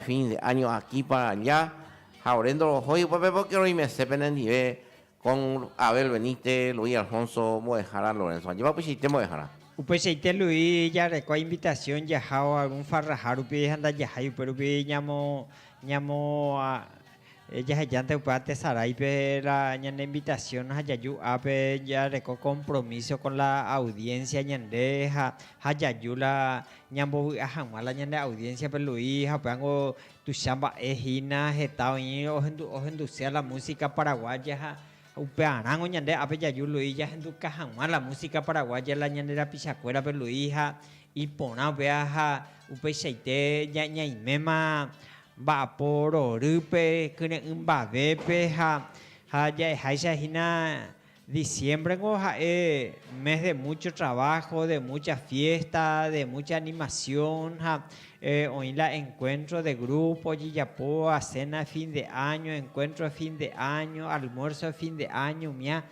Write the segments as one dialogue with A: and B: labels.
A: Fin de año aquí para allá ha ore ndorohói upépe porque roimese penendive con Abel Benítez, Luis Alfonso mbo'ehára Lorenzo ajépa upeichaite mbo'ehára. Upeichaite Luis jarekua invitación jahávo algún farraha rupi ha ndajahái upérupi ñamo ñamo Jahejánte upéva tesaráipe la ñane invitación ha jaju ápe jareko compromiso con la audiencia ñande ha jaju la ñambovy'a hag̃ua la ñande audiencia-pe Luis ha upévango tuicha mba'e hína heta oĩ ohenduse la música paraguaya ha upearãngo ñande ápe jaju Luis jahenduka hag̃ua la música paraguaya la ñande rapichakuérape Luis ha iporã upéva ha upeichaite ñaiméma Mba'apo rorýpe, kyre'ỹ mbavépe ha ja'eháicha hína diciémbrengo ha'e mes de múcho traváho, de múcha fiésta, de múcha animasión ha oĩ la enkuéntro de grúpo ojejapóva, séna de fin de áño, enkuéntro de fin de áño, almuérso de fin de áño, umía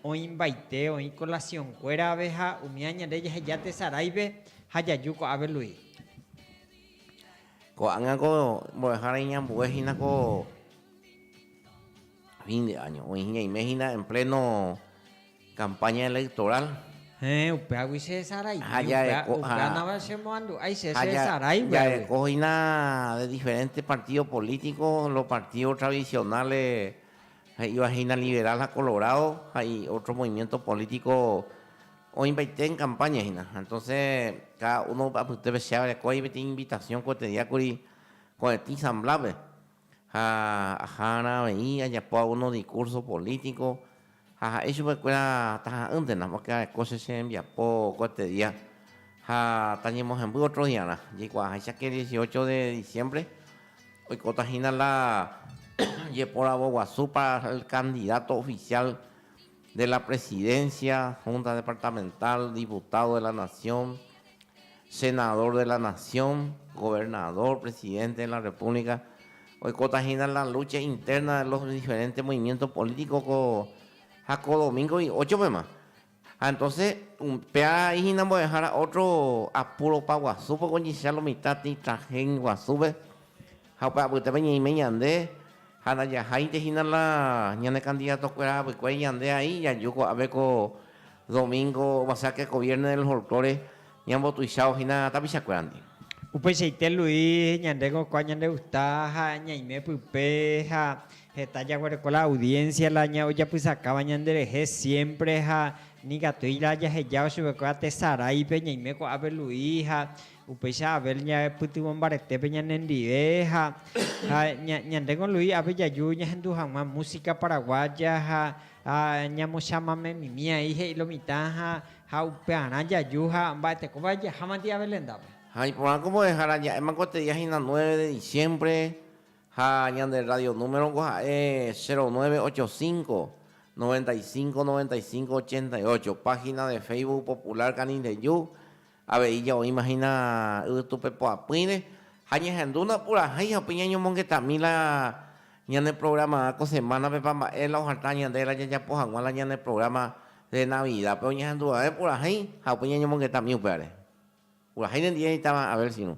A: oĩmbaite, oĩ kolasionkuérave ha umía ñande jaheja tesaráipe ha jaju ko'ápe Luis. Ko'ág̃a ko mbo'ehára iñambue hína ko fin de año, oĩ ñaime hína en pleno campaña electoral. Héẽ, upéagui che esaraive, ha jareko, upéa, upéanava che moandu'ái che che esarái va'ekue. Jareko hína de diferente partido político, los partidos tradicionales, he'íva hína liberal ha colorado ha otro movimiento político, Oĩmbaite en campaña hína. Entonces cada uno upe apytépe che arekói peteĩ invitación ko'ẽte día kuri ko'ẽtĩ samblápe ha aha'arã avei ajapo alguno discurso político ha ha'e chupekuéra taha'ỹntena porque areko che che rembiapo ko'ẽte día ha tañemohemby otro diarã. Jaikuaaháicha que el dieciocho de diciembre oikóta hína la jeporavo guasu para el candidato oficial. de la Presidencia, Junta Departamental, Diputado de la Nación, Senador de la Nación, Gobernador, Presidente de la República, oikóta hína la lucha interna de los diferentes movimientos políticos ko ha ko domingo y ocho pema. Ha entonces péarai hína mbo'ehára otro apuro paguasu poko oñecha lo mitã tĩ traje guasúpe Ha upe apytépe ñaime ñande, ha ndajaháinte hína la ñane kandidatokuéra apykuéri ñande aĩ jaju ko'ápe ko domingo oguasea teko viérne del folklore ñambotuichávo hína tapichakuérandi. Upeichaite Luis, ñande kokuaa ñande gusta ha ñaime pype ha heta jaguereko la audiencia la ojapysakáva ñande rehe siempre ha nikatúi la jahejávo chupekuéra tesaráipe ñaime ko'ápe Luis ha Upéicha Abel ñaepytyvõ mbaretépe ñanendive ha ñande con Luis ápe jaju ñahendu hag̃ua música paraguaya ha ñamochamamemimi ahí he'i lomitã ha upearã jaju ha mba'etekóva jahámante Abel rendápe. Ha iporã ko mbo'ehára ja'éma ko tedia hína nueve de diciembre ha ñande rrádio número ko ha'e cero nueve ocho cinco, noventa y cinco, noventa y cinco, ochenta y ocho, página de Facebook Popular Canindeyú Avei jaoíma hína yvytupepoapỹire ha ñahendúna purahéi ha upéi ñañomongetami la ñane programa ko semana-pepa mba'e la oharta ñande la jajapo hag̃ua la ñane programa de Navidad-pe oñehenduva'e purahéi ha upéi ñañomongetami upévare. Purahéi nendive imitãva Abel Sinu.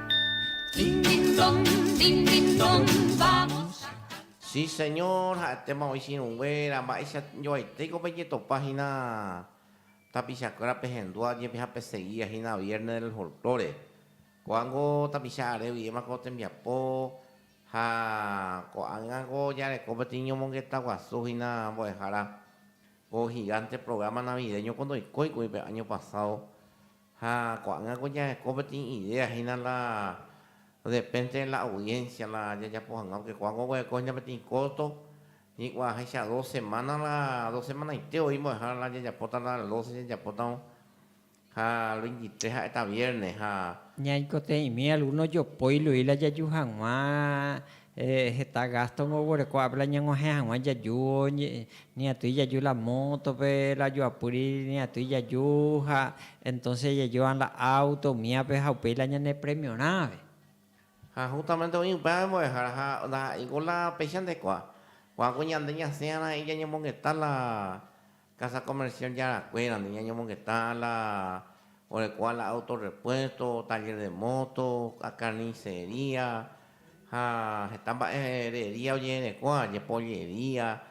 A: Si señor, ha'etéma oĩ chirũnguéra, mba'éicha joaitéiko pejetopa hína tapichakuéra pehendua ojepe ha pesegia hína vierne del folklore. Ko'ág̃o tapicha are guivéma ko tembiapo ha ko'ág̃ako ojareko peteĩ ñomongeta guasu hína mbo'ehára ko gigante programa navideño ko ndoikóikuri pe año pasado Ha ko'ág̃a ko jaheko peteĩ idéa, hína la depénte la audiénsia la jajapo hag̃ua, pórke ko'ág̃a oguerekóhina peteĩ kósto, hikuaa háicha dos semána la dos semanaite voi mbo'ehára la jajapóta la el doce jajapótavo, ha el veintitrés ha'éta viérne ha. Ñaikotevẽmi algúno jopói loi la jaju hag̃ua Heta gásto oguereko ápe la ñaguahẽ hag̃ua jaju, ni atýi jaju la mótope, la joapýri ni atýi jaju, ha entónse jajúva la áuto umívape ha upéi la ñane premiorãve. Ha hústamente oĩ upéva embo'ehára, ha ndaha'éi ko la péicha ndekuaa. Ko'ã ko ñande ñasẽhara'ỹi ñañemongeta la. Casa Comercial Yarakuéra nde ñañomongeta a la oreko a la Auto Repuesto, Taller de Moto, a Carnicería ha heta mba'e herería ojeherekóva aje, Pollería,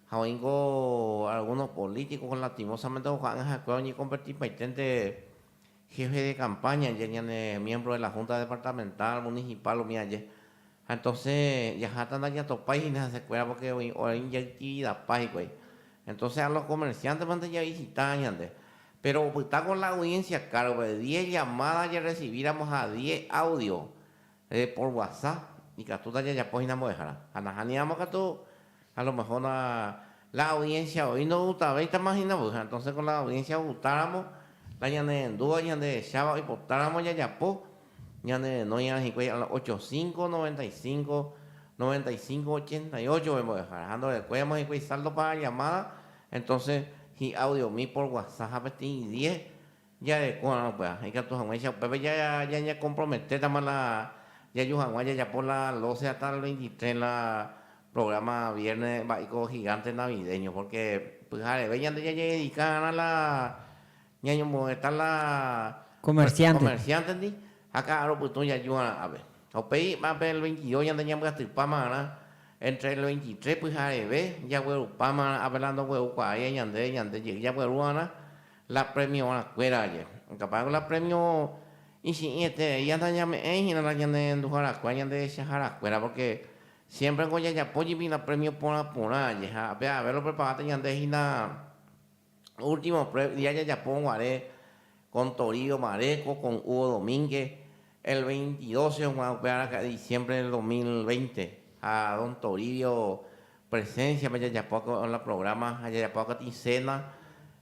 A: ha oĩ nko algunos políticos lastimosamente oha'ãngaha'ekuéra oñeconverti paiténte Jefe de campaña aje, ñane miembro de la Junta Departamental Municipal umi aje. Ha entonces jaháta ndajatopái hína hesekuéra porque oĩ oĩ jaitividapa hikuái. Entonces a los comerciantes mante ja visita ñande. Pero opytáko la audiencia car rupe, diez llamadas jarecibíramo ha diez audio, Reporguasa, ikatúta jajapo hína mbo'ehára. Ha nahániramo katu, a lo mejor na, la audiencia oĩ ndo'utavéitama hína voi, ha entonces con la audiencia outáramo, la ñanerendúva ñandehecháva oipotáramo jajapo, ñane renoirã hikuái a la ocho cinco, noventa y cinco, noventa y cinco, ochenta y ocho-pe mbo'ehára. Ha ndorekuéiramo hikuái saldo para llamada, entonces hi'audiomi por guasa ha peteĩ diez Jarekorã upéva, ikatu hag̃uáicha upépe jañakomprometétama la jaju hag̃ua jajapo la doce hasta el veintitrés la programa viérne mba'éiko gigánte navideño. Pórke pyhareve ñande jajededika va'erã la ñañombogueta la komersiántendi ha ka'arõ pytũ jaju va'erã ápe. Ha upéi ápe el veintidos ñande ñambyatypáma va'erã, éntre el veintitrés pyhareve jaguerupáma va'erã ápe la ndoguerukuaái ñande, ñande jey jagueru va'erã. La premiorãkuéra aje. Ikapáyku la premio ichi'ĩ eterei áta ñame'ẽ ihína ñanerenduharakue ha ñandehechaharakuéra, pórke siémpreko jajapo jepi la premio porã porã aje ha pe avave lopreparáta ñande hína último prueb dia jajapo guare kon Torío Maréko, kon Hugo Domíngue, el veintidos heg̃uahẽ upe araka'e diciembre del dos mil veinte ha don Toribio Presencia-pe jajapo la programa ha jajapo akatĩ cena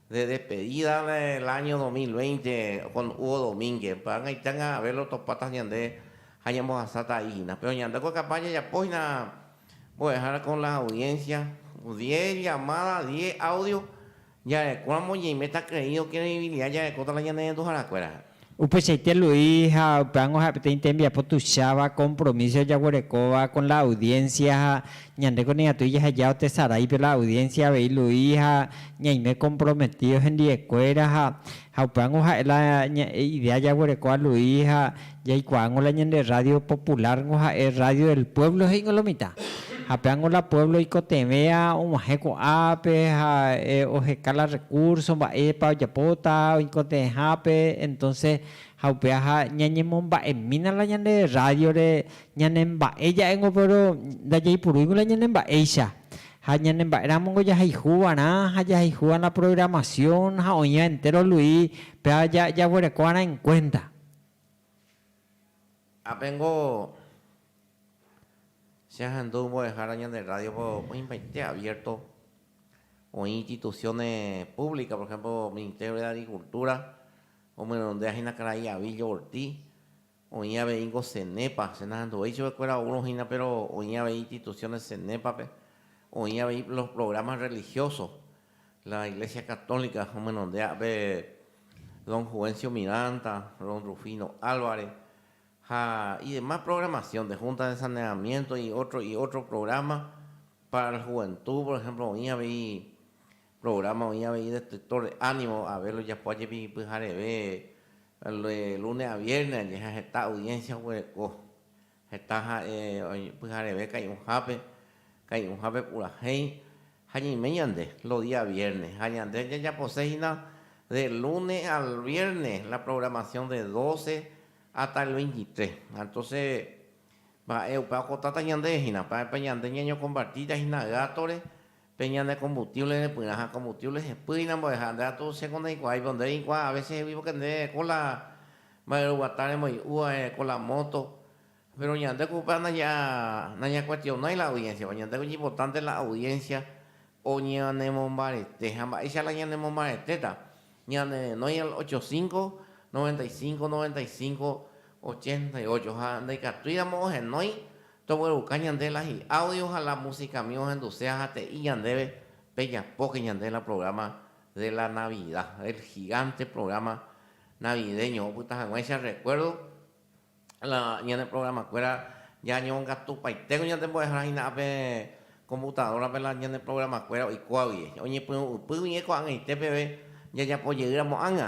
A: de despedida del año dos mil veinte con Hugo Domínguez. Py'añaita ñangavéva otopáta ñande ha ñambohasáta a'i hína. Pero ñande ko capaz jajapo hína mbo'ehára con la audiencia, diez llamadas, diez audios. Ja'ekuaa moñeime takyre'ỹ okreĩbilia jarekóta la ñane renduhára kuéra. Upeichaite Luis ha upévango ha'e peteĩ tembiapo tuicháva compromiso jaguerekóva con la audiencia ha ñandéko nikatúi jaheja otesarái pe la audiencia avei Luis ha ñaime comprometido hendive kuéra ha Ha upévango ha'e la ña'e idea jaguereko a Luis ha jaikuaángo la ñande rrádio populárngo ha'e Rrádio del Pueblo he'íngo lo mitã. Ha pévango la puévlo ikotevẽ og̃uahẽ ko'ápe ha oheka la rrekúrso mba'épa ojapóta oikotevẽhápe, entónse ha upeaha ñañemomba'emína la ñande rrádiore ñanemba'e ja'éngo péro ndajaipurúingo la ñanemba'éicha. Ha ñane mba'éramongo jahayhu va'erã ha jahayhu va'erã la programación ha oĩva entéro Luis, péva jaguereko va'erã en cuenta. Ápe niko che ahendu mbo'ehára ñande rrádiope oĩmbaite abierto. Oĩ instituciones públicas, por ejemplo, Ministerio de Agricultura, omyrõndehína karai Avillo Ortiz, Oĩ aveíngo Cenepa, che nahenduvéi chupekuéra oúrõ hína, péro oĩ avei instituciones Cenepa-pe, oĩ avei los programas religiosos. La Iglesia Católica omenondéa pe don Juvencio Miranda, don Rufino Álvarez, ha y demás programación de Junta de Saneamiento y otro, y otro programa para el juventud, por ejemplo, oĩ avei, Programa oĩ avei destructor de ánimo ave lojapo ajepi pyhareve de lunes a viernes aje ha heta audiencia oguereko heta ha'e pyhareve kai'ũhápe kai'ũhápe purahéi ha ñaime ñande los días viernes ha ñande jajapose hína de lunes al viernes la programación de doce hasta el veintitrés ha entonce mba'e upe okotáta ñande hína mba'épa ñande ñañocompartíta hína gáto-re Pe ñane combustible repyrã ha combustible hepy hína mbo'eha. Nde atu che ko ndeikuaái, pero nde reikuaa a veces hegui porque nde ko la mba'e roguata remoi'u va, ko la moto. Pero ñande ko upéva naña nañakuestionái la audiencia-pa, ñande ko ñimportante la audiencia oñanemombarete. Ha mba'éicha la ñanemombaretéta? Ñane renói al ocho cinco, noventa y cinco, noventa y cinco, ochenta y ocho. Ha ndaikatuíramo ohenói, Togueruka ñande la hi'audio ha la musicami ohenduse ahate'i ñandéve pejapóke ñande la programa de la Navidad, el gigante programa navideño opyta hag̃uáicha recuerdo la ñane programakuéra jañongatupaitégui ñande mbo'ehára hína ape computadorape la ñane programakuéra oikóagui oñepyrũ'ypýgui ñeko'ag̃aite peve jajapojeýramo'ág̃a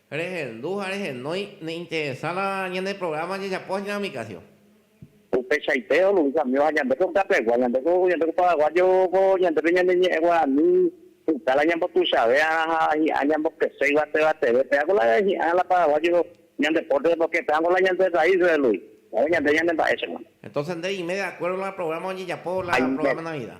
A: Rehendu ha rehenói neinteresa la ñane programa jajapo hína umi caso. Upeichaite onuvikamíva ñande ko Kápegua, ñande ko ñande ko Paraguayo ko ñandépe ñande ñe'ẽ guarani pyta la ñambotuichavéarã ha hi'ã ñambokese yvatevateve. Péa ko la hi'ã la Paraguayo ñande pórtere porque péa ko la ñande raíz relui. Ñande ñande mba'éichapa. Entonces nde reime de acuerdo la programa ojejapo la programa Navidad.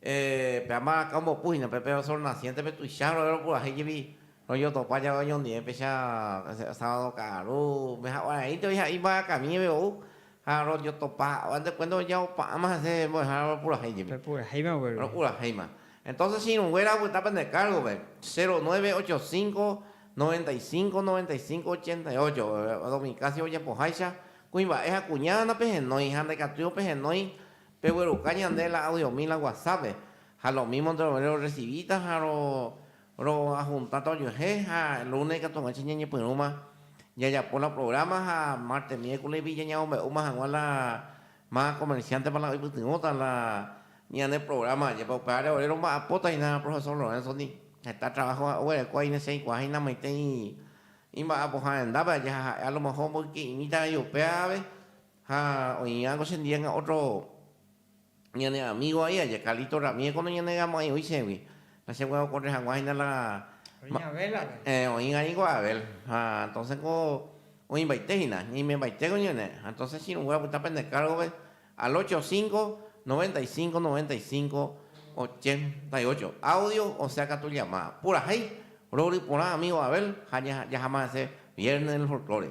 A: Pe ama rakã ombopu hína pe Pedro Sol Naciéntepe tuicha rove ropurahéi jepi rojotopa jave oñondivepecha sábado ka'aru umi haguãraínte voi ha'e imbarakavi ñeve ou ha rojotopa ha'éva nde kuénta ojaopa'ãma hese mbo'ehára ropurahéi jepi. Ropurahéima guéru. Ropurahéima. Entonces che irũnguéra opyta pende kárgove, cero nueve ocho cinco, noventa y cinco, noventa y cinco, ochenta y ocho, Domi Casio ojapoháicha, kuimba'e ha kuñágana pehenói ha ndaikatúirõ pehenói, Pegueruka ñande la audiomi la WhatsApp-pe, ha lo mismo nde rove rorrecibi-ta ha ro roajunta-ta ojehe, ha lunes ikatuguáicha ñañepyrũma jajapo la programa ha martes, miércoles-gui jañamombe'úma hag̃ua la ma comerciante-pa la oipytyvõta la ñane programa ajépa. Upe áre ore romba'apóta hína profesor Lorenzo-ndi, heta trabajo oguereko ahí nesẽikuaa hína maitei imba'apoha rendápe aja ha ha'e a lo mejor omboyke'imíta rei upévape, Ha oĩva ko chendiega otro ñane amigo ahí aja Carlito Ramírez kono ñane gamo'ãi'úi chégui. La chégui okorre hagua hína la Oĩ Abel-pe. Eh, oĩva ningo Abel. Ha entonces ko oĩmbaite hína, ñaimembaite ko ñane. Ha entonces chirũngue apyta pende cargo-pe al ocho cinco, noventa y cinco, noventa y cinco, ochenta y ocho. Audio osea katu llamada. Purahéi rory porã amigo Abel ha jaha ma'ẽse Viernes del Folklore.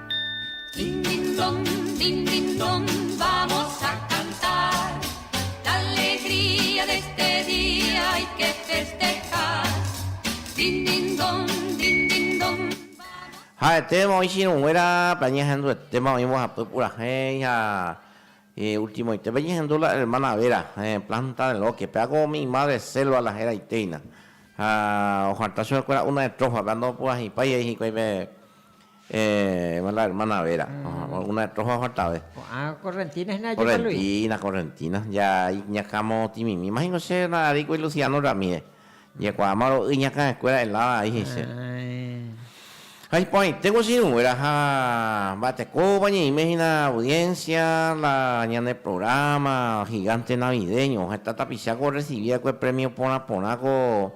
A: Ha'etéma oĩ chiruguéra pe añehenduetéma oĩ mbohapy purahéi ha ultimoitépe oñehendu la hermana Vera planta de loke péva ko umi imadre selva la heraiteina ha oharta chupekuéra una estrófape ha ndopurahéipaiva hikuái pe Héẽ, la hermana Vera, una de Troja ohartave. Ko'ã correntina hína jajopa Luis. Correntina, correntina, ja iñakãmo otimimíma hína che arékuri Luciano Ramírez. Jaikuaáma ro'y iñakãekuéra helada aí he'ise. Ha iporãite guachiruguéra ha mba'etekópa ñe'ẽime hína audiencia la ñane programa gigante navideño. Heta tapicha ko orrecibi va'ekue premio porã porã ko.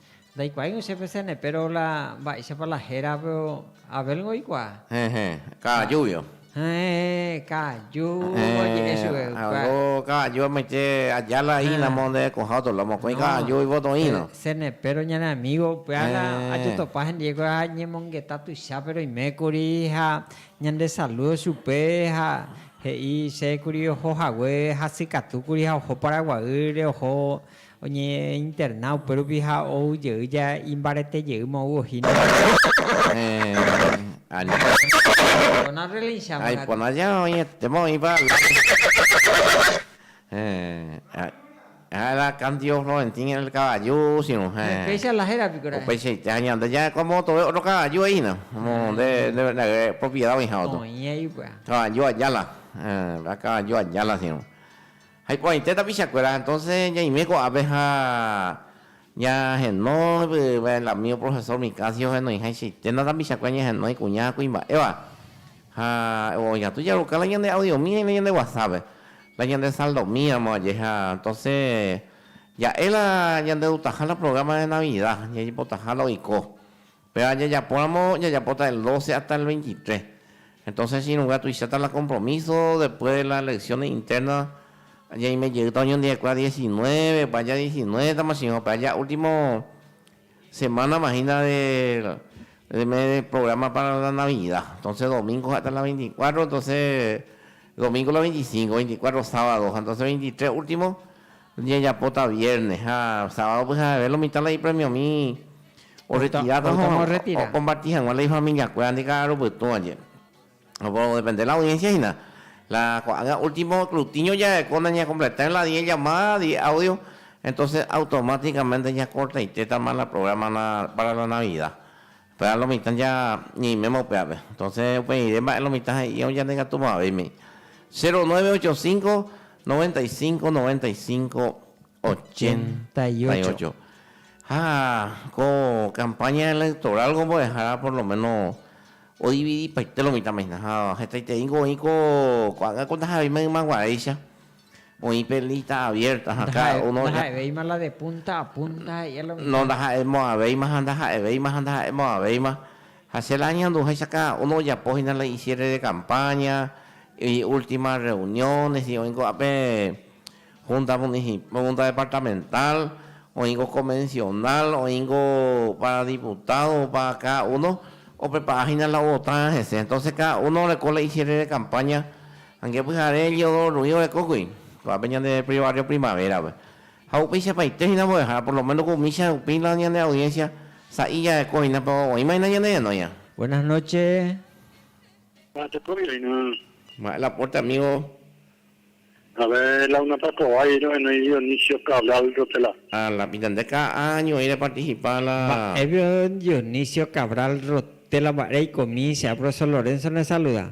A: Ndaikuaáirõ che peséne, péro la mba'éichapa la héra pe Abélngo oikuaa? Heẽ, ka'ajúgio. Heẽ, ka'ajúvo oje'e chupe hikuái. Algo ka'aju amoite aja la ínamo nde ko'ã otro la mokõi ka'aju ivoto írõ. Peséne, péro ñane amígo upéva la ajotopa hendie ko ha ñemongeta tuichápe roime kuri ha ñande salúdo chupe ha he'i che kuri oho hague hasykatu kuri ha oho Paraguaýre, oho Oñeinterna upérupi ha ou jey ja imbarete jey mou ohína hese. Aipota ja oĩetéma oĩpa la candio Florentín el caballo sino upeichaite ha ñande ja komotove otro caballo he'ína nde propiedad oĩháva caballo ayala sino. Ha iporãite tapichakuéra, entonce ñaime ko'ápe ha ñahenó yvyguaigua el amigo profesor Micasio henoiháichaiténa tapichakuéra ñahenó ikuña ha kuimba'éva. Ha oñatũ jaruka la ñande audiomína y la ñande whatsap-pe, la ñande saldomíramo vaje ha entonce ja'e la ñandedutaha la programa de Navidad, jajepotaha la oiko. Péva jajapóramo jajapóta del doce hasta el veintitrés. Entonces chiruga tuicháta la compromiso después de las elecciones internas ñaime jeýta oñondive'ekuéra diecinueve opa aja diecinueve tama chĩva opa aja último semana imagina del del mes del programa para la navidad. Entonces domingo hasta la veinticuatro entonces domingo la veinticinco, veinticuatro sábado entonces veintitrés último Ñajapóta viérnes ha sábado pyhaheve lo mitã la ipremiomi orretiráta ha omparti hag̃ua la ifamiliakuérandi ka'aru pytũvaje. Opodepende la audiénsia hína. La ko'ág̃a último skrutiño jarekóta nañakompletáirõ la diez llamada, diez audio, entóse automátikamente ñakortaitétama la prográma pára la Navida. Péva lo mitã ja ñeiméma upe ápe. Entonce uperiré mba'e lo mitã he'i ou ñande katu mavẽime. 0985 95 95 88. Ha ko campaña electoral ko mbo'ehára por lo menos odividipaite lo mitãme hína ha hetaiterei niko oĩ ko ko'ágã ko ndahaveimaima guaréicha. Oĩ pe lista abierta ha cada uno ja. Ndaha'evéima la de punta a punta ha i'a la mitad. No, ndaha'emo'ãvéima ha ndaha'evéima ha ndaha'emo'ãvéima. Ha che la añanduháicha cada uno ojapo hína la icierre de campaña, i ultima reuniones, i oĩ ko'ápe junta municipal, junta departamental, oĩngo convencional, oĩngo para diputado, para cada uno oprepara hína la ovotarã hese. Entonces cada uno oreko la icierre de campaña Ange pyhare Eliodoro Ruiz orekókuri ko'ápe ñande Barrio Primavera-pe, ha upeichapaite hína mbo'ehára, por lo menos ko umi che rupi la ñande audiencia sa'i jareko hína, péro oĩma hína ñane renóia. Buenas noche. Ha tekóvio hína. Mba'e la pórte amigo. A ver, la unapa kóva jey rohenói Dionisio Cabral Rotela. Ha la pitande ka'a ñoĩ reparticipa la. Mba'évio Dionisio Cabral Rotela mba'e reikomi, che a profesor Lorenzo nesaluda.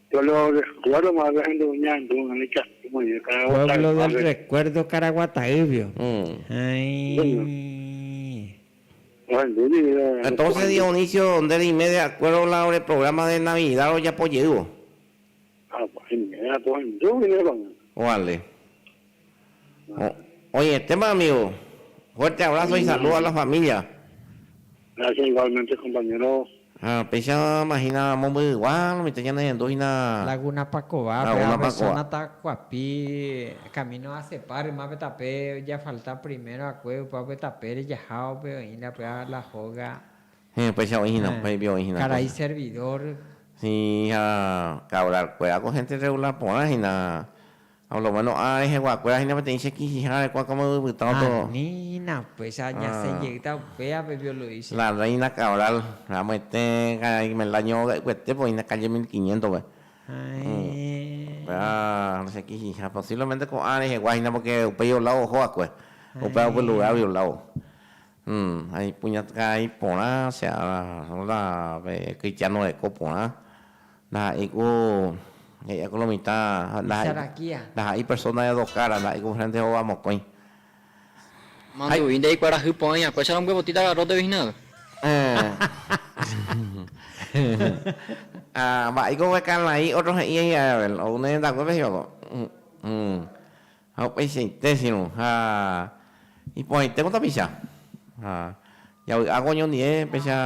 A: Pueblo del recuerdo Caraguataývio. Entonces Dionisio nde reime de acuerdo la ore programa de Navidad rojapo jeývo. Vale. Oĩetéma amigo. Fuerte abrazo y saludo a la familia. Gracias igualmente compañero. Ha péichama hína momby'ygua mitã ñanehendu hína. Laguna Pakova pe ave zona Tacuapi camino a Acepa rymápe tape ojafalta primero akue ypápe tapére jahávape oĩ la py'a La Hoga. Héẽ, péicha oĩ hína, upéi pia oĩ hína. Karai servidor. Sí, ha ka hablar kuéra ko hénte rregular porã hína. Ha por lo méno ára reheguakuéra hína peteĩ che kichiha arekua káma yvypytã otoo. Ani hína upéicha añasẽ jeýta upévape violoícha. La Reina Cabral, amoete karai el año óga ykuetépe oĩne calle mil quiniéntope. Upéva che kichiha posiblemente ko'ã rehegua hína porque upéi olávo oho va'ekue. Upéva upe lugar gui olávo. Ha ipuñatka'ai porã che ára róla pe kristiáno reko porã. Ndaha'éi ku he'íva ku lo mitã, ndaha'éi persóna edokára, ndaha'éi ku enfrénte hova mokõi. Manduvi nde ikuarahy porã iñakuécha rombyepotýta garróte vichínagui. Ha mba'éiko pe Cainai ótro he'i Israel, ou ne rendakuépe hikuái. Ha upeichaite sirũ ha iporãite ko tapicha, ha javy'áko oñondive péicha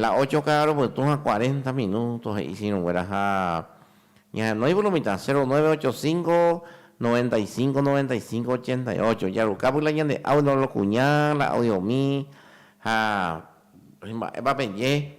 A: la ocho ka'arõ pytũ ha cuarenta minúto, he'i sirũnguéra ha ñahenói puru mitã, cero nueve ocho cinco, noventa y cinco, noventa y cinco, ochenta y ocho. Jaruka puru la ñande audio la kuña, la audiomi ha mba'épa peje.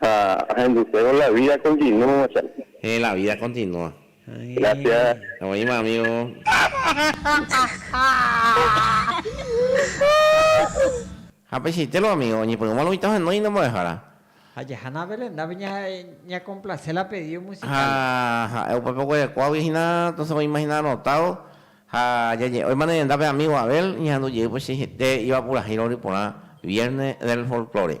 A: Ha ahendusévo la vida continúa chápe. Héẽ, la vida continúa. Gracias. Oĩma amigo. Ha peichaite lo amigo, oñepyrũma lo mitã ohenói nde mbo'ehára. Ha jahána Belendápe ñakomplase la pedido musical. Ha ha'e upépe oguerekuágui hína, entonces oĩma hína anotado. Ha jaje'óima ne renda pe amigo Abel, ñahendu jey upeichaite iva purahéi rory porã Viernes del Folklore.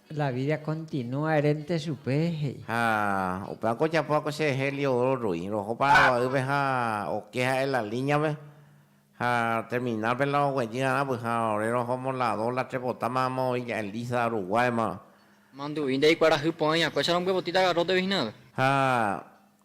A: La vida continúa erénte chupe, he'i. Ha upévako ojapo va'ekue che hélio oro roĩ, roho Paraguaýpe ha oke ha'e la líñape, ha terminal-pe la oguejy arãpy, ha ore roho Moladó la tres potáma ha moõi ja'e Liza, Uruguáymava. Mandu'i ndaikuarahy porã iñakue, che rombyepotí tagarrótegui hinave. Ha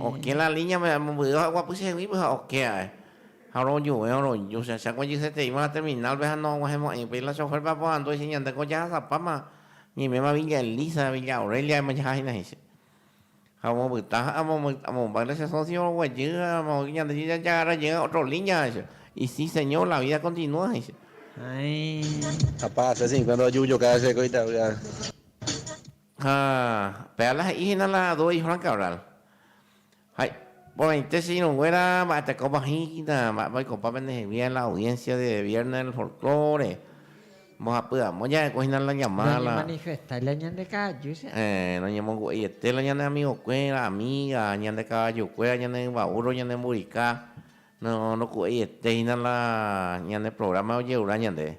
A: Okẽ la línea mba'e momby'ýva ha oguapy cheheguípe ha okẽ ae. Ha orojuve, oroju. Che acháko ojeseteíma la terminal-pe ha noaguãhemo'ãi. Upéi la chofer-pe aporandu he'iche ñande ko jahasapáma ñaiméma Villa Elisa, Villa Aurelia aemo jaha hína he'iche. Ha omopyta ha amombáy la che socio oguejy ha amoĩ ñande jajagarra jey otro línea he'iche. Y sí, señor, la vida continúa he'iche. Apa, che cincuenta ojuhu joka che ko Itavy'a. Ha pe ala he'i hína la dúo Juan Cabral. Ha iporãite che irũnguéra mba'etekópa oĩta, mba'épa oikopa pende hegui en la audiencia de viernes del folklore, mbohapy amo ja'ekue hína la llamada la. Noñemanifestai la ñande ka'aju che. Héẽ, noñemongu'eiete la ñane amigokuéra, amiga, ñande kavajukuéra, ñane yva burro, ñande mburika, no, ndoku'eiete hína la ñane programa ojerura ñandéve.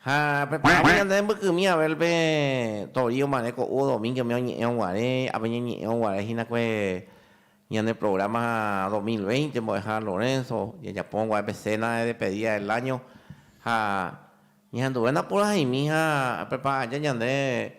A: Ha pe paráme ñande rembykymi Abel pe Tori omarẽ ko'úvo domíngueme oñe'ẽ'õ guare, ápe ñañe'ẽ'õ guare hína kue ñane programa dos mil veinte mbo'eha Lorenzo, jajapó'õ guare pe cena de despedida del año ha ñahenduve napurahẽimi ha prepara aja ñande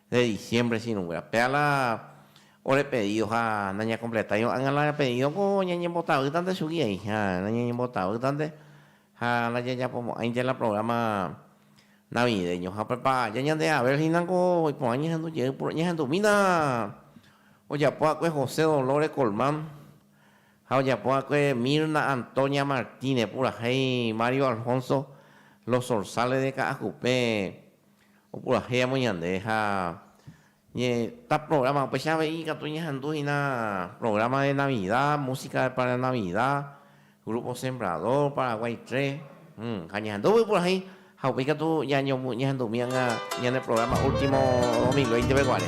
A: de diciembre sirũnguéra. Péva la ore pedido ha nañakompletái ko'ág̃a la pedidoko ñañembotavýtante chugui aĩ ha nañañembotavýtante ha la jajapomo'ãinte la programa navideño. Ha upépa aja ñande Abel hína ko iporã ñehendu jey puro ñehendumína ojapo va'ekue José Dolores Colmán ha ojapo va'ekue Mirna Antonia Martínez purahéi Mario Alfonso Los Zorzales de Ka'akupe Opurahéiamo ñande ha ñe ta programa, upéicha avei ikatu ñehendu hína programa de Navida, música para Navida, Grupo Sembrador, Paraguay tres, ha ñehendúgui purahéi ha upéi katu ñahendumi ág̃a ñane programa último dos mil veinte peguare.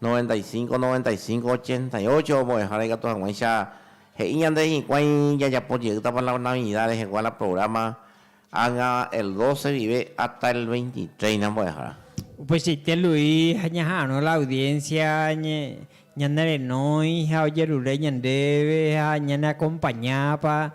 A: Noventa y cinco, noventa y cinco, ochenta y ocho ombo'ehára ikatu hag̃uáicha he'i ñande hikuái jajapo jeýtapa la Navidad rehegua la programa ág̃a el doce guive hasta el veintitrés ni ambo'ehára. Upeichaite Luis ha ñaha'arõ la audiencia ñanerenói ha ojerure ñandéve ha ñaneakompañápa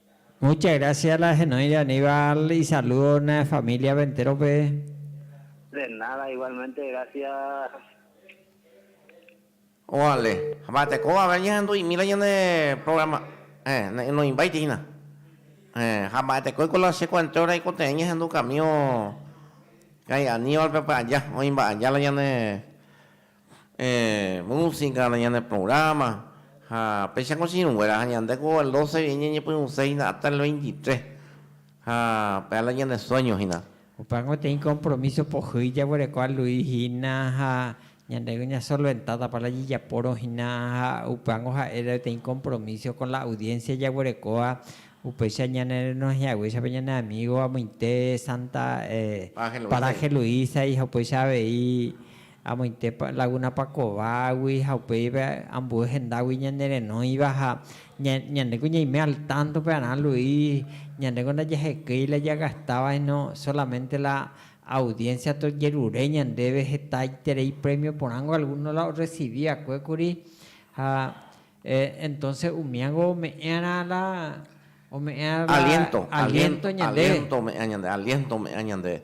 A: Mucha grasia la henoide Aníbal isalúdo ne famíliape entérope. De nada, igualmente gracias. Ovale. Mba'ete kóvape añehendu'imíla ñane programa. Héẽ, ne noĩmbáiti hína. Héẽ, ha mba'etekóiko la che kuenteo raikote'ẽ ñahendu kamío ka'i Aníbalpe py'aja, oĩ mba'aja la ñane. música, ñane programa ha péicha ko chiruguéra ha ñande ko el doce vi ñañepyrũse hina hasta el veintitres ha pe ala ñane sueño hina. Opa gotyo ĩ compromiso pohýi jaguereko alui hina ha ñandéve ña solventádapa la jejapórõ hina ha upángo ha'éta gotyo ĩ compromiso con la audiencia jaguerekóva upéicha ñane renohẽaguéichapa ñane amigo amoite Santa Paraje Luisa y ha upéicha avei Amoite lagunapa kovágui ha upéiva ambue hendágui ñanerenóiva ha ñandéko ñaime al tánto pearã Luis, ñandéko ndajahekéi la jagastáva síno sólamente la audiénsia tojerure ñandéve hetaiterei prémio porãngo algúno la orresivi va'ekue kuri ha entónse umíango ome'ẽ'arã la aliénto ñandéve.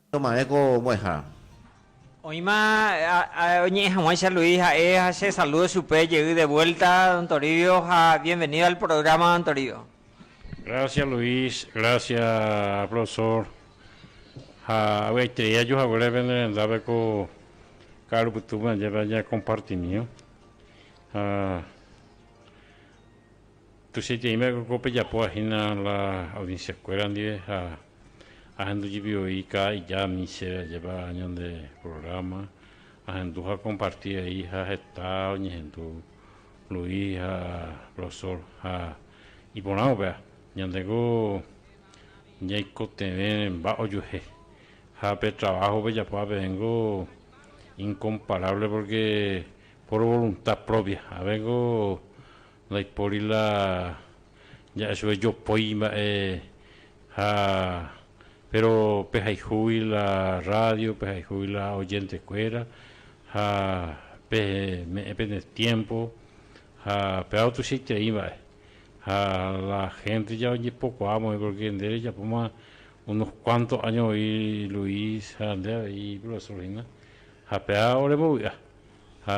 A: Toma'ẽ ko mbo'ehára. Oĩma oñe'ẽ hag̃uáicha Luis ha'e ha che salúdo chupe jey de vuelta don Toribio ha bienvenido al programa don Toribio. Gracias Luis, gracias profesor ha avy'aiterei ajuhaguére pende rendápe ko ka'aru pytúpe añépe aña compartimío ha Tuichaiteímako ko pejapóva hína la audienciakuéra ndive ha ahendu jepi voi kaa ijami chéve ajépa ñande programa ahendu ha comparti vai ha heta oñehendu Luis ha Rosol ha iporã upéva ñandeko ñaikotevẽ mba ojuehe ha pe trabajo pejapóva pevénko incomparable porque por voluntad propia avénko Ndaipóri la ja'e chupe jopói mba'e ha péro pehayhúgui la rrádio, pehayhúgui la ojentekuéra ha peme'ẽ pene tiémpo ha péva otuichaiterei mba'e. Ha la hénte ja ojepokuaa mokõi porke nde rejapóma unos kuánto áño voi Luis ha nde avei iprofesórhina ha péva orembovy'a ha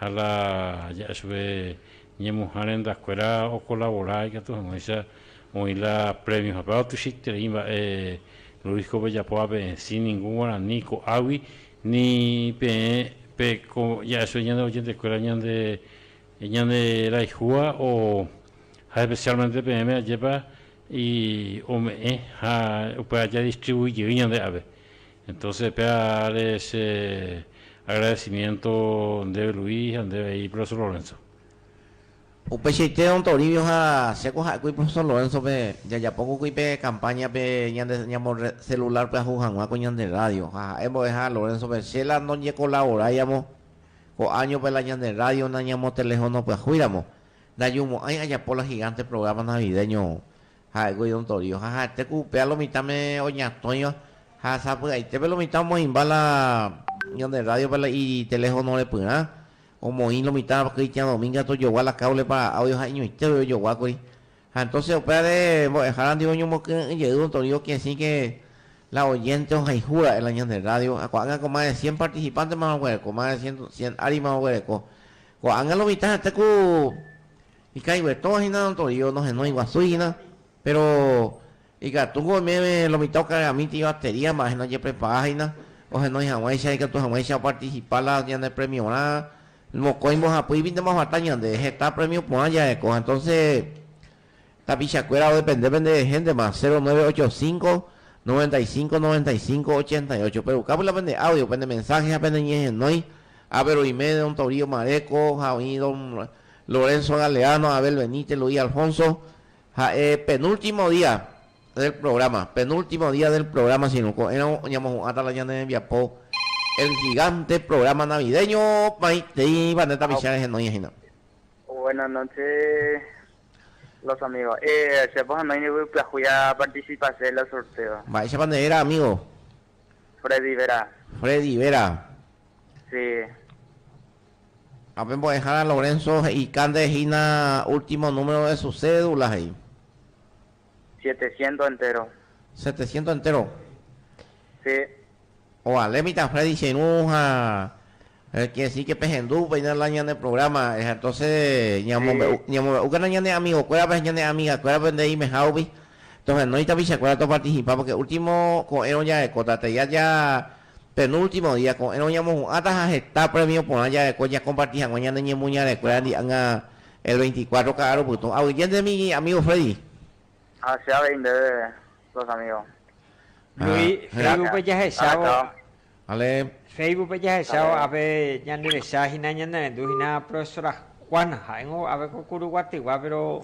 A: ha la ja'e chupe ñemuha rendakuéra okolabora ikatu hag̃uáicha oĩ la prémio. Ha péva tuichaiterei mba'e Luis ko pejapo ape'ẽsĩ ningu guarani ko'águi ni peẽ pe ko ja'e chupe ñande ojentekuéra ñande ñanderayhúva o ha especialmente peẽme ajépa ome'ẽ ha upe aja distribuí jey ñande ápe. Entonces péa áre che agradecimiento ndéve Luis ha ndéve he'i Profesor Lorenzo. Upeichaite Don Toribio ha che ko ha'ékuri Profesor Lorenzo-pe jajapóko kuri pe campaña-pe ñande ñamo celular pyahu hag̃ua ko ñande radio ha ha'e mbo'eha Lorenzo-pe che la ndoñekolavoraiamo ko año-pe la ñande radio nañamotelefonopyahuiramo, ndajumo'ãi ajapo la gigante programa navideño Ha'éko idontorio, ha ha'etéko upéva lo mitãme oñatõiva, ha sapy'aitépe lo mitã omoĩmba la ñande rrádiope la iteléfono repyrã, omoĩ lo mitã Cristian Domínguez tojogua la káblepa áudio ha iñoitépe ojoguákuri. Ha entóse upévare mbo'ehára ndive oñomokyre'ỹ jey dontorio kesĩke la oyénte ohayhu ra'e la ñande rrádio, ha ko'ág̃a ko más de cien partisipántema oguereko, más de cien ári más oguereko. Ko'ág̃a lo mitã ha'ete ku Ikãiguetõ hína notorio, nohenói guasúi hína, péro ikatúko oimeve lo mitã okareramíti ibatería mba'éhina ojeprepara hína ohenói hag̃uáicha, ikatu hag̃uáicha opartisipa la ñanepremiorã. Mokõi mbohapýipi ndomaguata ñande, heta prémio porã jareko. Ha entónse tapichakuéra odepende pende héntema, cero nueve ocho cinco, noventa y cinco, noventa y cinco, ochenta y ocho. Perukápy la pende áudio, pende mensáhe ha peneñehenói ápe roime don Torío Maréko ha oĩ don. Lorenzo Galeano, Abel Benítez, Luis Alfonso, ha'e penúltimo día del programa, penúltimo día del programa si no, ko'ẽrõ oñamohu'ãta la ñane rembiapo El Gigante programa navideño maitei Vanessa Michel rehenói hína. Buenas noches los amigos. Eh, chépa ohenói niko pyahu a participase la sorteo. Mba'éichapa nde réra amigo? Freddy Vera. Freddy Vera. Sí. Ha pe mbo'ehára Lorenzo he'ikánte hína último número de su cédula, he'i. Setecientos enteros. Setecientos enteros. Sí. Ovale mitã Freddy che irũ ha quiere decir que pehendu upéina la ñane programa, entonces ñamombe'u, ñamombe'úkena ñane amigokuérape ha ñane amigakuérape nde imehagui, tohenói tapichakuéra toparticipa, porque último ko'ẽrõ jarekóta, tei aja Penúltimo día, ko'ẽrõ ñamohu'ãta ha heta prémio porã jareko jakomparti hag̃ua ñane ñemoñarekuéra ndi'ág̃a el veinticuatro ka'aru pytũ. Aguyjéntemi amígo Freddy. Ha che avei ndéve los amígo. Luis, Facebookpe jahechávo. Vale. Facebookpe jahechávo ápe ñanderecha hína ñanerendu hína Profesora Juana. Ha'éngo ápe ko Kuru Guatyguá péro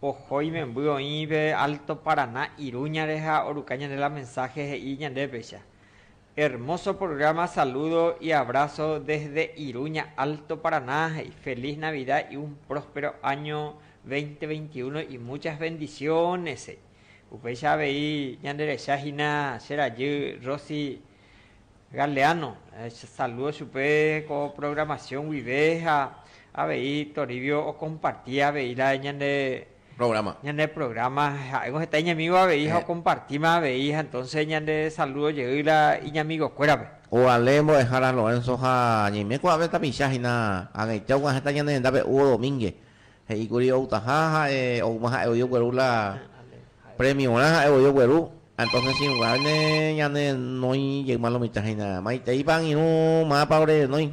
A: oho imemby oĩ pe Alto Paraná Iruñare ha oruka ñande la mensáhe he'i ñandépecha. Hermoso programa saludo y abrazo desde Iruña Alto Paraná y feliz Navidad y un próspero año 2021 y muchas bendiciones upéicha avei ñande rehecha hína che rajy Rosy Galeano saludo chupe ko programación guive ha avei Toribio o comparti avei la ñande programa. Ñane programa ha'éngo heta iñamigo avei ha okompartíma avei ha entonce ñande saludo jey la iñamigokuérape. Ko Ale mbo'ehára Lorenzo ha ñaime kuaave tapicha hína ag̃eite oguã heta ñane rendápe Hugo Domínguez he'i kuri outaha ha'e oúma ha'e voi ogueru la premiorã ha'e voi ogueru ha entonce che irũnguáne ñane renói jeýma lo mitã hína maiteipa angirũ mápa ore renói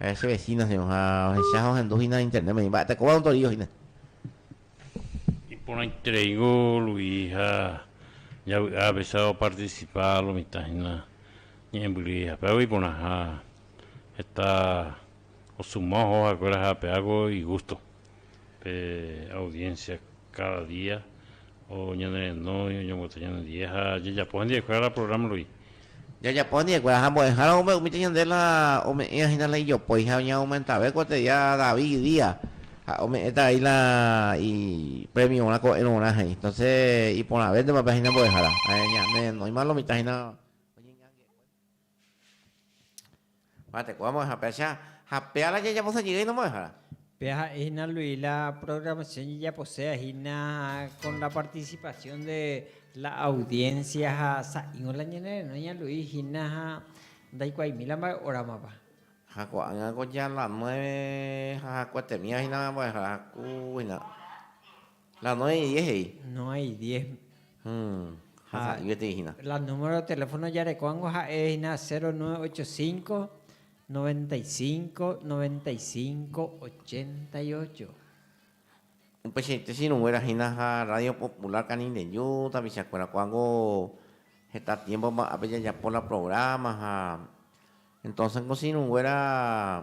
A: Ha'e che vecino ha'e ha ohecha ha ohendu hína Internet-pe, ni mba'e tekóva ontorío hína. Iporãitereíngo Luis ha javy'a apesa opartisipa lo mitã hína ñe'ẽmbyry hapeágui iporãha heta osuma oho ha'ekuéra ha ape'águi igústo. Pe audiencia cada día oñenerenói, oñomboty ñanendie ha jajapo hendivekuéra la programa rupi. Jajapo hendivekuéra ha mbo'ehára oúme umíta ñande la ome'ẽva hína la ijopói ha oñeaumentave kuateria David día ha ome'ẽta vai la i premiorã ko'ẽrõrã he'i. Entonces iporãvéntema pe hína mbo'ehára. Ñanerenóima lo mitã hína oñeñangue. Mba'eteko amo'ẽhapeacha ha péala jajaposa jey nomo'ẽhára. Pe ha'e hína Luis la programación jajaposéva hína con la participación de la audiencia ha sa'ĩngo la ñane renó ña Luis hína ha ndaikuaimíla mba'e óramapa. Ha ko'ág̃a ko ya la nueve ha hakuetemíva hína ambo'ehára ku hína. La nueve y diez he'i. Nueve y diez. Ha sa'y peteĩ hína. La número teléfono jarekóango ha'e hína cero nueve ocho cinco, noventa y cinco, noventa y cinco, ochenta y ocho. Upeichaite che irũnguéra hína ha Radio Popular Canindeju tapichakuéra ko'ág̃o heta tiempo mba'ápe jajapo la programa ha entonces ko che irũnguéra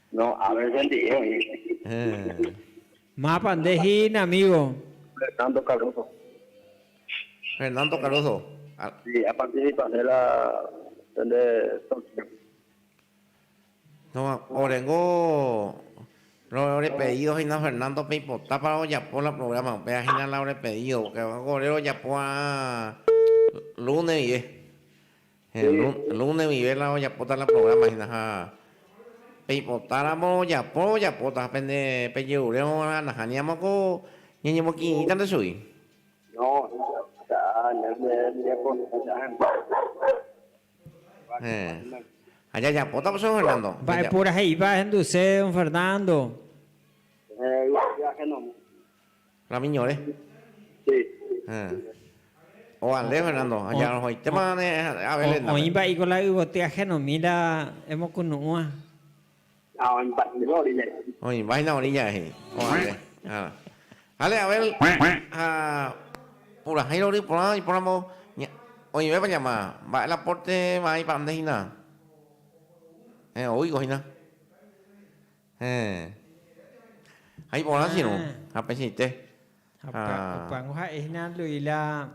A: No ave bendigo oĩ. Mápa nde hína amigo. Fernando Cardoso. Fernando Cardoso. Sí, a participa nde la nde torneo. Toma, orengo rove ore pedido hína Fernando peipota para ojapo la programa upéva hína la ore pedido porque ore rojapo va'ã lunes ndive. Héẽ, lúne guive la ojapóta la programa hína ha peipotáramo ojapo ojapóta ha pende pejerure óga nahániramo ko ñañemokirirĩtante chugui. No, heta ñande rembiapokuéra hembiapo. Héẽ, ha jajapóta pues, Don Fernando. Mba'eporãhe'ipa ahenduse, Don Fernando? Héẽ, yvy ahénomi. Rami ñore. Sí. Eh. Ovale Fernando, añarõhoitéma ne Abel. Oĩpa iko la yvoty ajenomi la emokunu'ũva. Ha oĩpa hína orilla. Oĩpa hína orilla he'i. Ovale. Jale Abel ha purahéi rory porã ipóramo oĩvépa ñama, mba'e la porte va'ãipa nde hína. Eh, oúi ko hína. Héẽ. Ha iporã che irũ, ha pesẽite. Ha upévango ha'e hína Luis la,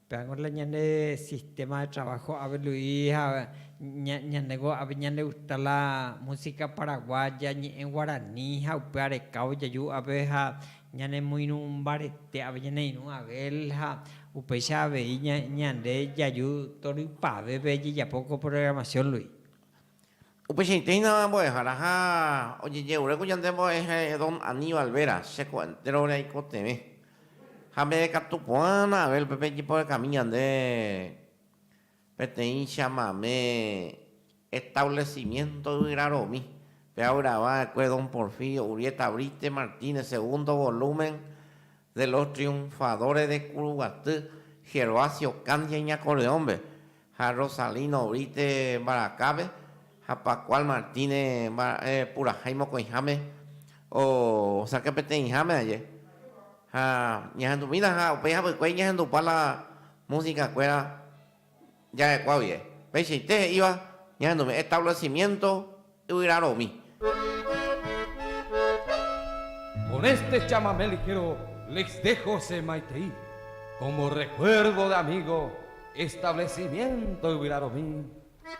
A: upévango la ñande sistema de trabajo ave Luis ha ñandéngo ave ñande gusta la música paraguaya, ñe'ẽ guarani ha upe arekávo jaju ave ha ñane moirũ mbarete ave ñane irũ Abel ha upéicha avei ñande jaju torypavépe jejapo ko programación Luis. Upeichaitéinama mbo'ehára ha ojejeure ku yande mbo'ehae don Aníbal Vera, che ko enterove aikotevẽ. Ha peve katu ko'ág̃a Abel pe pejeporekami ñande peteĩ chamamé establecimiento yvyraromi, pe'avyrava'ekue don Porfirio Urrieta Brite Martínez, segundo volumen, de los Triunfadores de Kuruguaty, Gervasio Candia Iñakorreõme ha Rosalino Brite Mbarakápe ha Pascual Martínez mba'e purahái mokõiháme osãke peteĩháme aje ha ñahendumína ha upéi hapykuéri ñahendupa la música kuéra Ja'ekuaa guie, peichaite he'íva ñahendume'ẽ establesimiento yvyraromi. Con este chamamé ligero les dejo se maitei como recuerdo de amigo establesimiento yvyraromi.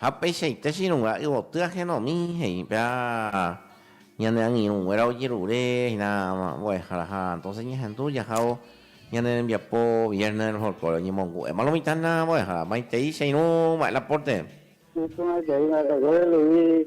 A: Ha upeichaite chirũnga yvoty ahenomí he'i pe ñane angirũnguéra ojerure hína mbo'ehára ha entonces ñahendu jahávo ñane rembiapo Viernes del Folklore oñemongu'éma lo mitã hína mbo'ehára. Maitei che irũ mba'e la pórte. Iporã jey ha hese rei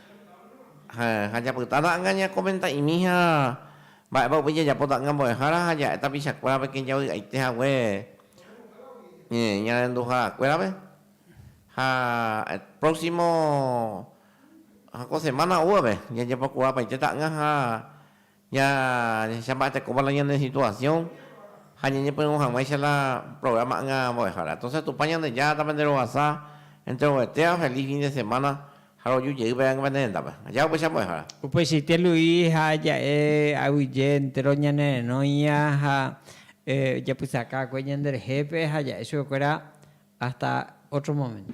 A: Ha japyta ta'anga ñakomenta'imíha mba'épa upéi jajapo ta'anga mbo'ehára ha ja'e tapichakuérape kẽ javy'aite hague ñarenduharakuérape. Ha próximo ha ko semana oúvape jajapokuaapaite ta'anga ha Ñajahechamba'etekóva la ñane situasión ha ñañepyrũ hag̃uáicha la programa ỹgã mbo'ehára. Entonces Tupã Ñandejára tapenderovasa entre ovetéva feliz fin de semana ha roju jey peẽgueva ne rendápe. Aja upéicha mbo'ehára. Upeichaite Luis ha ja'e aguyje entéro ñanerenóia ha ojapysakakue ñanderehépe ha ja'e chupekuéra hasta ótro moménto.